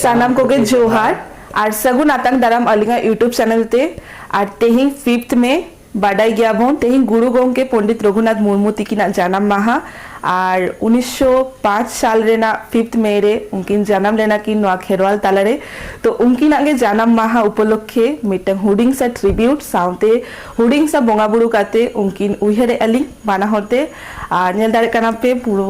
ᱥᱟᱱᱟᱢ ᱠᱚᱜᱮ ᱡᱚᱦᱟᱨ ᱟᱨ ᱥᱟᱹᱜᱩᱱ ᱟᱛᱟᱝ ᱫᱟᱨᱟᱢ ᱟᱹᱞᱤᱧᱟᱜ ᱤᱭᱩᱴᱩᱵᱽ ᱪᱮᱱᱮᱞ ᱛᱮ ᱟᱨ ᱛᱮᱦᱮᱧ ᱯᱷᱤᱯᱛᱷ ᱢᱮ ᱵᱟᱰᱟᱭ ᱜᱮᱭᱟᱵᱚᱱ ᱛᱮᱦᱮᱧ ᱜᱩᱨᱩ ᱜᱚᱢᱠᱮ ᱯᱚᱱᱰᱤᱛ ᱨᱚᱜᱷᱩᱱᱟᱛᱷ ᱢᱩᱨᱢᱩ ᱛᱤᱠᱤᱱᱟᱜ ᱡᱟᱱᱟᱢ ᱢᱟᱦᱟ ᱟᱨ ᱩᱱᱤᱥᱥᱚ ᱯᱟᱸᱪ ᱥᱟᱞ ᱨᱮᱱᱟᱜ ᱯᱷᱤᱯᱛᱷ ᱢᱮ ᱨᱮ ᱩᱱᱠᱤᱱ ᱡᱟᱱᱟᱢ ᱞᱮᱱᱟ ᱠᱤᱱ ᱱᱚᱣᱟ ᱠᱷᱮᱨᱣᱟᱞ ᱛᱟᱞᱟᱨᱮ ᱛᱚ ᱩᱱᱠᱤᱱᱟᱜ ᱜᱮ ᱡᱟᱱᱟᱢ ᱢᱟᱦᱟ ᱩᱯᱚᱞᱚᱠᱠᱷᱮ ᱢᱤᱫᱴᱟᱝ ᱦᱩᱰᱤᱧ ᱥᱟ ᱴᱨᱤᱵᱤᱭᱩᱴ ᱥᱟᱶᱛᱮ ᱦᱩᱰᱤᱧ ᱥᱟ ᱵᱚᱸᱜᱟ ᱵᱩᱨᱩ ᱠᱟᱛᱮ ᱩᱱᱠᱤᱱ ᱩᱭᱦᱟᱹᱨᱮᱫᱼᱟ ᱞᱤᱧ ᱵᱟᱱᱟ ᱦᱚᱲ ᱛᱮ ᱟᱨ ᱧᱮᱞ ᱫᱟᱲᱮᱭᱟᱜ ᱠᱟᱱᱟ ᱯᱮ ᱯᱩᱨᱟᱹ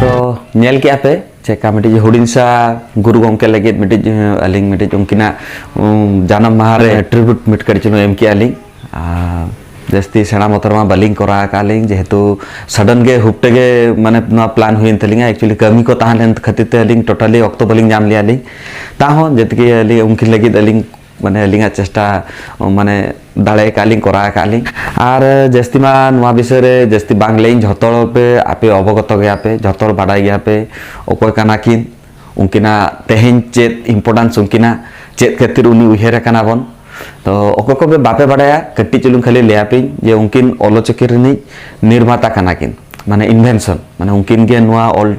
ᱛᱚ ᱧᱮᱞ ᱠᱮᱜᱼᱟ ᱯᱮ ᱪᱮᱠᱟ ᱢᱤᱫᱴᱤᱡ ᱦᱩᱰᱤᱧ ᱥᱟ ᱜᱩᱨᱩ ᱜᱚᱢᱠᱮ ᱞᱟᱹᱜᱤᱫ ᱢᱤᱫᱴᱤᱡ ᱟᱹᱞᱤᱧ ᱢᱤᱫᱴᱤᱡ ᱩᱱᱠᱤᱱᱟᱜ ᱡᱟᱱᱟᱢ ᱢᱟᱦᱟ ᱨᱮ ᱴᱨᱤᱵᱩᱴ ᱢᱤᱫ ᱠᱟᱹᱴᱤᱡ ᱪᱩᱞᱩᱝ ᱮᱢ ᱠᱮᱜᱼᱟ ᱞᱤᱧ ᱟᱨ ᱡᱟᱹᱥᱛᱤ ᱥᱮᱬᱟ ᱢᱚᱛᱚᱨ ᱢᱟ ᱵᱟᱹᱞᱤᱧ ᱠᱚᱨᱟᱣ ᱟᱠᱟᱫ ᱞᱤᱧ ᱡᱮᱦᱮᱛᱩ ᱥᱟᱰᱮᱱ ᱜᱮ ᱦᱩᱯᱴᱮ ᱜᱮ ᱢᱟᱱᱮ ᱱᱚᱣᱟ ᱯᱞᱟᱱ ᱦᱩᱭᱮᱱ ᱛᱟᱹᱞᱤᱧᱟ ᱮᱠᱪᱩᱭᱮᱞᱤ ᱠᱟᱹᱢᱤ ᱠᱚ ᱛᱟᱦᱮᱸ ᱞᱮᱱ ᱠᱷᱟᱹᱛᱤᱨ ᱛᱮ ᱟᱹᱞᱤᱧ ᱴᱳᱴᱟᱞᱤ ᱚᱠᱛᱚ ᱵᱟᱹᱞᱤᱧ ᱧᱟᱢ ᱞᱮᱜᱼᱟ ᱞᱤᱧ ᱛᱟᱦᱚᱸ ᱡᱮᱛᱮᱜᱮ ᱟᱹᱞᱤᱧ ᱩᱱᱠᱤᱱ ᱞᱟᱹᱜᱤᱫ ᱟᱹᱞᱤᱧ ᱢᱟᱱᱮ ᱟᱹᱞᱤᱧᱟᱜ ᱪᱮᱥᱴᱟ ᱢᱟᱱᱮ ᱫᱟᱲᱮ ᱟᱠᱟᱫ ᱞᱤᱧ ᱠᱚᱨᱟᱣ ᱟᱠᱟᱫ ᱞᱤᱧ ᱟᱨ ᱡᱟᱹᱥᱛᱤ ᱢᱟ ᱱᱚᱣᱟ ᱵᱤᱥᱚᱭ ᱨᱮ ᱡᱟᱹᱥᱛᱤ ᱵᱟᱝ ᱞᱟᱹᱭᱟᱹᱧ ᱡᱷᱚᱛᱚ ᱦᱚᱲ ᱯᱮ ᱟᱯᱮ ᱚᱵᱚᱜᱚᱛᱚ ᱜᱮᱭᱟ ᱯᱮ ᱡᱷᱚᱛᱚ ᱦᱚᱲ ᱵᱟᱰᱟᱭ ᱜᱮᱭᱟ ᱯᱮ ᱚᱠᱚᱭ ᱠᱟᱱᱟ ᱠᱤᱱ ᱩᱱᱠᱤᱱᱟᱜ ᱛᱮᱦᱮᱧ ᱪᱮᱫ ᱤᱢᱯᱚᱨᱴᱟᱱᱥ ᱩᱱᱠᱤᱱᱟᱜ ᱪᱮᱫ ᱠᱷᱟᱹᱛᱤᱨ ᱩᱱᱤ ᱩᱭᱦᱟᱹᱨ ᱟᱠᱟᱱᱟ ᱵᱚᱱ ᱛᱚ ᱚᱠᱚᱭ ᱠᱚ ᱵᱟᱯᱮ ᱵᱟᱰᱟᱭᱟ ᱠᱟᱹᱴᱤᱡ ᱪᱩᱞᱩᱝ ᱠᱷᱟᱹᱞᱤ ᱞᱟᱹᱭᱟ ᱯᱮᱧ ᱡᱮ ᱩᱱᱠᱤᱱ ᱚᱞᱚᱪᱚᱠᱤ ᱨᱤᱱᱤᱡ ᱱᱤᱨᱢᱟᱛᱟ ᱠᱟᱱᱟ ᱠᱤᱱ ᱢᱟᱱᱮ ᱤᱱᱵᱷᱮᱱᱥᱚᱱ ᱢᱟᱱᱮ ᱩᱱᱠᱤᱱ ᱜᱮ ᱱᱚᱣᱟ ᱚᱞ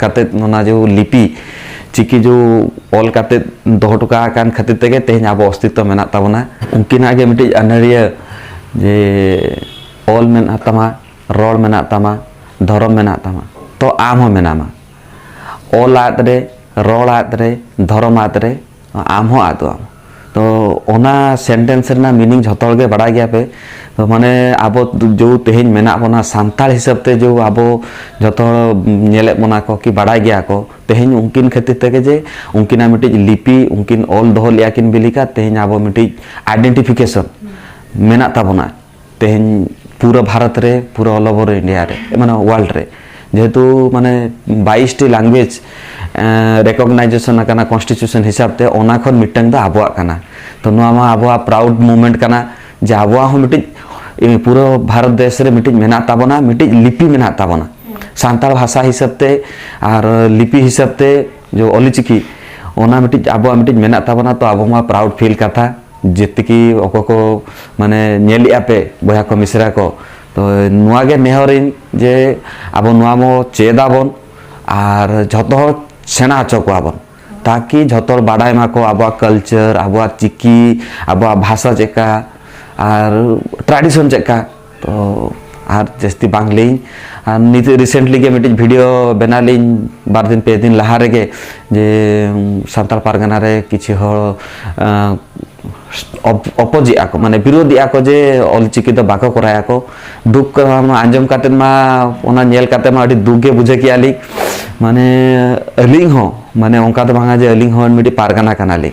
ᱠᱟᱛᱮᱫ ᱚᱱᱟ ᱡᱮ ᱞᱤᱯᱤ ᱪᱤᱠᱤ ᱡᱮ ᱚᱞ ᱠᱟᱛᱮᱫ ᱫᱚᱦᱚ ᱦᱚᱴᱚ ᱠᱟᱜ ᱠᱟᱱ ᱠᱷᱟᱹᱛᱤᱨ ᱛᱮᱜᱮ ᱛᱮᱦᱮᱧ ᱟᱵᱚ ᱚᱥᱛᱤᱛᱛᱚ ᱢᱮᱱᱟᱜ ᱛᱟᱵᱚᱱᱟ ᱩᱱᱠᱤᱱᱟᱜ ᱜᱮ ᱢᱤᱫᱴᱤᱡ ᱟᱹᱱᱟᱹᱲᱤᱭᱟᱹ ᱡᱮ ᱚᱞ ᱢᱮᱱᱟᱜ ᱛᱟᱢᱟ ᱨᱚᱲ ᱢᱮᱱᱟᱜ ᱛᱟᱢᱟ ᱫᱷᱚᱨᱚᱢ ᱢᱮᱱᱟᱜ ᱛᱟᱢᱟ ᱛᱚ ᱟᱢ ᱦᱚᱸ ᱢᱮᱱᱟᱢᱟ ᱚᱞ ᱟᱫ ᱨᱮ ᱨᱚᱲ ᱟᱫ ᱨᱮ ᱫᱷᱚᱨᱚᱢ ᱟᱫ ᱨᱮ ᱟᱢ ᱦᱚᱸ ᱟᱫᱚ ᱟᱢ ᱛᱚ ᱚᱱᱟ ᱥᱮᱱᱴᱮᱱᱥ ᱨᱮᱱᱟᱜ ᱢᱤᱱᱤᱝ ᱡᱷᱚᱛᱚ ᱦᱚᱲ ᱜᱮ ᱵᱟᱲᱟᱭ ᱜᱮᱭᱟ ᱯᱮ ᱛᱚ ᱢᱟᱱᱮ ᱟᱵᱚ ᱡᱮ ᱛᱮᱦᱮᱧ ᱢᱮᱱᱟᱜ ᱵᱚᱱᱟ ᱥᱟᱱᱛᱟᱲ ᱦᱤᱥᱟᱹᱵ ᱛᱮ ᱡᱮ ᱟᱵᱚ ᱡᱷᱚᱛᱚ ᱦᱚᱲ ᱧᱮᱞᱮᱫ ᱵᱚᱱᱟ ᱠᱚ ᱠᱤ ᱵᱟᱲᱟᱭ ᱜᱮᱭᱟ ᱠᱚ ᱛᱮᱦᱮᱧ ᱩᱱᱠᱤᱱ ᱠᱷᱟᱹᱛᱤᱨ ᱛᱮᱜᱮ ᱡᱮ ᱩᱱᱠᱤᱱᱟᱜ ᱢᱤᱫᱴᱤᱡ ᱞᱤᱯᱤ ᱩᱱᱠᱤᱱ ᱚᱞ ᱫᱚᱦᱚ ᱞᱮᱜᱼᱟ ᱠᱤᱱ ᱵᱤᱞᱤᱠᱟ ᱛᱮᱦᱮᱧ ᱟᱵᱚ ᱢᱤᱫᱴᱤᱡ ᱟᱭᱰᱮᱱᱴᱤᱯᱷᱤᱠᱮᱥᱚᱱ ᱢᱮᱱᱟᱜ ᱛᱟᱵᱚᱱᱟ ᱛᱮᱦᱮᱧ ᱯᱩᱨᱟᱹ ᱵᱷᱟᱨᱚᱛ ᱨᱮ ᱯᱩᱨᱟᱹ ᱚᱞ ᱳᱵᱷᱚᱨ ᱤᱱᱰᱤᱭᱟ ᱨᱮ ᱢᱟᱱᱮ ᱳᱣᱟᱨᱞᱰ ᱨᱮ ᱡᱮᱦᱮᱛᱩ ᱢᱟᱱᱮ ᱵᱟᱭᱤᱥᱴᱤ ᱞᱟᱝᱜᱩᱭᱮᱡᱽ ᱨᱮᱠᱚᱜᱱᱟᱭᱡᱮᱥᱚᱱ ᱟᱠᱟᱱᱟ ᱠᱚᱱᱥᱴᱤᱴᱤᱭᱩᱥᱚᱱ ᱦᱤᱥᱟᱵ ᱛᱮ ᱚᱱᱟ ᱠᱷᱚᱱ ᱢᱤᱫᱴᱟᱝ ᱫᱚ ᱟᱵᱚᱣᱟᱜ ᱠᱟᱱᱟ ᱛᱚ ᱱᱚᱣᱟ ᱢᱟ ᱟᱵᱚᱣᱟᱜ ᱯᱨᱟᱩᱰ ᱢᱩᱢᱮᱱᱴ ᱠᱟᱱᱟ ᱡᱮ ᱟᱵᱚᱣᱟᱜ ᱦᱚᱸ ᱢᱤᱫᱴᱤᱡ ᱯᱩᱨᱟᱹ ᱵᱷᱟᱨᱚᱛ ᱫᱮᱥ ᱨᱮ ᱢᱤᱫᱴᱤᱡ ᱢᱮᱱᱟᱜ ᱛᱟᱵᱚᱱᱟ ᱢᱤᱫᱴᱤᱡ ᱞᱤᱯᱤ ᱢᱮᱱᱟᱜ ᱛᱟᱵᱚᱱᱟ ᱥᱟᱱᱛᱟᱲ ᱵᱷᱟᱥᱟ ᱦᱤᱥᱟᱵ ᱛᱮ ᱟᱨ ᱞᱤᱯᱤ ᱦᱤᱥᱟᱵ ᱛᱮ ᱡᱮ ᱚᱞᱤᱪᱤᱠᱤ ᱚᱱᱟ ᱢᱤᱫᱴᱤᱡ ᱟᱵᱚᱣᱟᱜ ᱢᱤᱫᱴᱤᱡ ᱢᱮᱱᱟᱜ ᱛᱟᱵᱚᱱᱟ ᱛᱚ ᱟᱵᱚ ᱢᱟ ᱯᱨᱟᱩᱰ ᱯᱷᱤᱞ ᱠᱟᱛᱷᱟ ᱡᱮᱛᱤᱠᱤ ᱚᱠᱚᱭ ᱠᱚ ᱢᱟᱱᱮ ᱧᱮᱞ ᱮᱜᱼᱟ ᱯᱮ ᱵᱚᱭᱦᱟ ᱠᱚ ᱢᱤᱥᱨᱟ ᱠᱚ ᱛᱚ ᱱᱚᱣᱟ ᱜᱮ ᱱᱮᱦᱚᱨᱤᱧ ᱡᱮ ᱟᱵᱚ ᱱᱚᱣᱟ ᱵᱚ ᱪᱮᱫ ᱟᱵᱚᱱ ᱟᱨ ᱡᱷᱚᱛᱚ ᱦᱚᱲ ᱥᱮᱬᱟ ᱦᱚᱪᱚ ᱠᱚᱣᱟ ᱵᱚᱱ ᱛᱟᱠᱤ ᱡᱷᱚᱛᱚ ᱦᱚᱲ ᱵᱟᱰᱟᱭ ᱢᱟᱠᱚ ᱟᱵᱚᱣᱟᱜ ᱠᱟᱞᱪᱟᱨ ᱟᱵᱚᱣᱟᱜ ᱪᱤᱠᱤ ᱟᱵᱚᱣᱟᱜ ᱵᱷᱟᱥᱟ ᱪᱮᱫᱠᱟ ᱟᱨ ᱴᱨᱟᱰᱤᱥᱚᱱ ᱪᱮᱫᱠᱟ ᱛᱚ ᱟᱨ ᱡᱟᱹᱥᱛᱤ ᱵᱟᱝ ᱞᱟᱹᱭ ᱟᱨ ᱱᱤᱛ ᱨᱤᱥᱮᱱᱴᱞᱤ ᱜᱮ ᱢᱤᱫᱴᱤᱡ ᱵᱷᱤᱰᱤᱭᱳ ᱵᱮᱱᱟᱣ ᱞᱤᱧ ᱵᱟᱨ ᱫᱤᱱ ᱯᱮ ᱫᱤᱱ ᱞᱟᱦᱟ ᱨᱮᱜᱮ ᱡᱮ ᱥᱟᱱᱛᱟᱲ ᱯᱟᱨᱜᱟᱱᱟ ᱨᱮ ᱠᱤᱪᱷᱩ ᱦᱚᱲ ᱚᱯᱚᱡᱮᱜ ᱟᱠᱚ ᱢᱟᱱᱮ ᱵᱤᱨᱳᱫᱷᱮᱜ ᱟᱠᱚ ᱡᱮ ᱚᱞᱪᱤᱠᱤ ᱫᱚ ᱵᱟᱠᱚ ᱠᱚᱨᱟᱭᱟ ᱠᱚ ᱫᱩᱠ ᱟᱸᱡᱚᱢ ᱠᱟᱛᱮ ᱢᱟ ᱚᱱᱟ ᱧᱮᱞ ᱠᱟᱛᱮ ᱢᱟ ᱟᱹᱰᱤ ᱫᱩᱠ ᱜᱮ ᱵᱩᱡᱷᱟᱹᱣ ᱠᱮᱜᱼᱟ ᱞᱤᱧ ᱢᱟᱱᱮ ᱟᱹᱞᱤᱧ ᱦᱚᱸ ᱢᱟᱱᱮ ᱚᱱᱠᱟ ᱫᱚ ᱵᱟᱝᱟ ᱡᱮ ᱟᱹᱞᱤᱧ ᱦᱚᱸ ᱢᱤᱫᱴᱤᱡ ᱯᱟᱨᱜᱟᱱᱟ ᱠᱟᱱᱟᱞᱤᱧ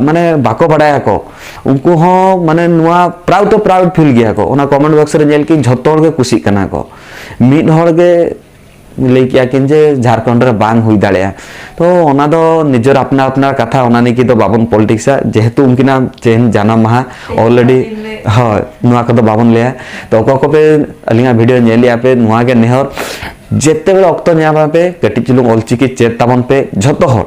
ᱢᱟᱱᱮ ᱵᱟᱠᱚ ᱵᱟᱲᱟᱭᱟ ᱠᱚ ᱩᱱᱠᱩ ᱦᱚᱸ ᱢᱟᱱᱮ ᱱᱚᱣᱟ ᱯᱨᱟᱣᱩᱰ ᱫᱚ ᱯᱨᱟᱣᱩᱰ ᱯᱷᱤᱞ ᱜᱮᱭᱟ ᱠᱚ ᱚᱱᱟ ᱠᱚᱢᱮᱱᱴ ᱵᱚᱠᱥ ᱨᱮ ᱧᱮᱞ ᱠᱤᱱ ᱡᱷᱚᱛᱚ ᱦᱚᱲ ᱜᱮ ᱠᱩᱥᱤᱜ ᱠᱟᱱᱟ ᱠᱚ ᱢᱤᱫ ᱦᱚᱲ ᱜᱮ ᱞᱟᱹᱭ ᱠᱮᱭᱟ ᱠᱤᱱ ᱡᱮ ᱡᱷᱟᱲᱠᱷᱚᱸᱰ ᱨᱮ ᱵᱟᱝ ᱦᱩᱭ ᱫᱟᱲᱮᱭᱟᱜᱼᱟ ᱛᱚ ᱚᱱᱟ ᱫᱚ ᱱᱤᱡᱮᱨ ᱟᱯᱱᱟᱨ ᱟᱯᱱᱟᱨ ᱠᱟᱛᱷᱟ ᱚᱱᱟ ᱱᱤᱭᱮ ᱫᱚ ᱵᱟᱵᱚᱱ ᱯᱚᱞᱤᱴᱤᱠᱥᱟ ᱡᱮᱦᱮᱛᱩ ᱩᱱᱠᱤᱱᱟᱜ ᱛᱮᱦᱮᱧ ᱡᱟᱱᱟᱢ ᱢᱟᱦᱟ ᱚᱞᱨᱮᱰᱤ ᱦᱳᱭ ᱱᱚᱣᱟ ᱠᱚᱫᱚ ᱵᱟᱵᱚᱱ ᱞᱟᱹᱭᱟ ᱛᱚ ᱚᱠᱚᱭ ᱠᱚᱯᱮ ᱟᱹᱞᱤᱧᱟᱜ ᱵᱷᱤᱰᱤᱭᱳ ᱧᱮᱞᱮᱜᱼᱟ ᱯᱮ ᱱᱚᱣᱟ ᱜᱮ ᱱᱮᱦᱚᱨ ᱡᱮᱛᱮ ᱵᱮᱲᱟ ᱚᱠᱛᱚ ᱧᱟᱢᱟ ᱯᱮ ᱠᱟᱹᱴᱤᱡ ᱪᱩᱞᱩᱝ ᱚᱞᱪᱤᱠᱤ ᱪᱮᱫ ᱛᱟᱵᱚᱱ ᱯᱮ ᱡᱷᱚᱛᱚ ᱦᱚᱲ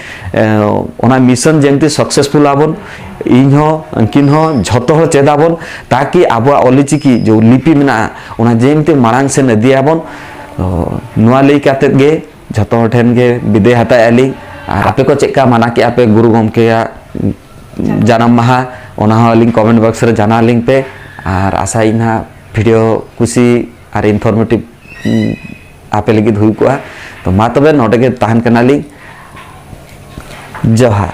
ᱚᱱᱟ ᱢᱤᱥᱚᱱ ᱡᱮᱱᱛᱤ ᱥᱟᱠᱥᱮᱥᱯᱷᱩᱞ ᱟᱵᱚᱱ ᱤᱧ ᱦᱚᱸ ᱩᱱᱠᱤᱱ ᱦᱚᱸ ᱡᱷᱚᱛᱚ ᱦᱚᱲ ᱪᱮᱫ ᱟᱵᱚᱱ ᱛᱟᱠᱤ ᱟᱵᱚᱣᱟᱜ ᱚᱞᱪᱤᱠᱤ ᱡᱮ ᱞᱤᱯᱤ ᱢᱮᱱᱟᱜᱼᱟ ᱚᱱᱟ ᱡᱮᱱᱛᱤ ᱢᱟᱲᱟᱝ ᱥᱮᱱ ᱤᱫᱤᱭᱟᱵᱚᱱ ᱱᱚᱣᱟ ᱞᱟᱹᱭ ᱠᱟᱛᱮᱫ ᱜᱮ ᱡᱷᱚᱛᱚ ᱦᱚᱲ ᱴᱷᱮᱱ ᱜᱮ ᱵᱤᱫᱟᱹᱭ ᱦᱟᱛᱟᱣᱮᱫ ᱟᱹᱞᱤᱧ ᱟᱨ ᱟᱯᱮ ᱠᱚ ᱪᱮᱫᱠᱟ ᱢᱟᱱᱟ ᱠᱮᱫ ᱟᱯᱮ ᱜᱩᱨᱩ ᱜᱚᱢᱠᱮᱭᱟᱜ ᱡᱟᱱᱟᱢ ᱢᱟᱦᱟ ᱚᱱᱟ ᱦᱚᱸ ᱟᱹᱞᱤᱧ ᱠᱚᱢᱮᱱᱴ ᱵᱚᱠᱥ ᱨᱮ ᱡᱟᱱᱟᱣ ᱟᱹᱞᱤᱧ ᱯᱮ ᱟᱨ ᱟᱥᱟᱭᱟᱹᱧ ᱦᱟᱸᱜ ᱵᱷᱤᱰᱤᱭᱳ ᱠᱩᱥᱤ ᱟᱨ ᱤᱱᱯᱷᱚᱨᱢᱮᱴᱤᱵᱷ ᱟᱯᱮ ᱞᱟᱹᱜᱤᱫ ᱦᱩᱭ ᱠᱚᱜᱼᱟ ᱛᱚ ᱢᱟ ᱛᱚᱵᱮ ᱱᱚᱰᱮ ᱜᱮ ᱛᱟᱦᱮᱱ ᱠᱟᱱᱟᱞᱤᱧ ᱡᱚᱦᱟᱨ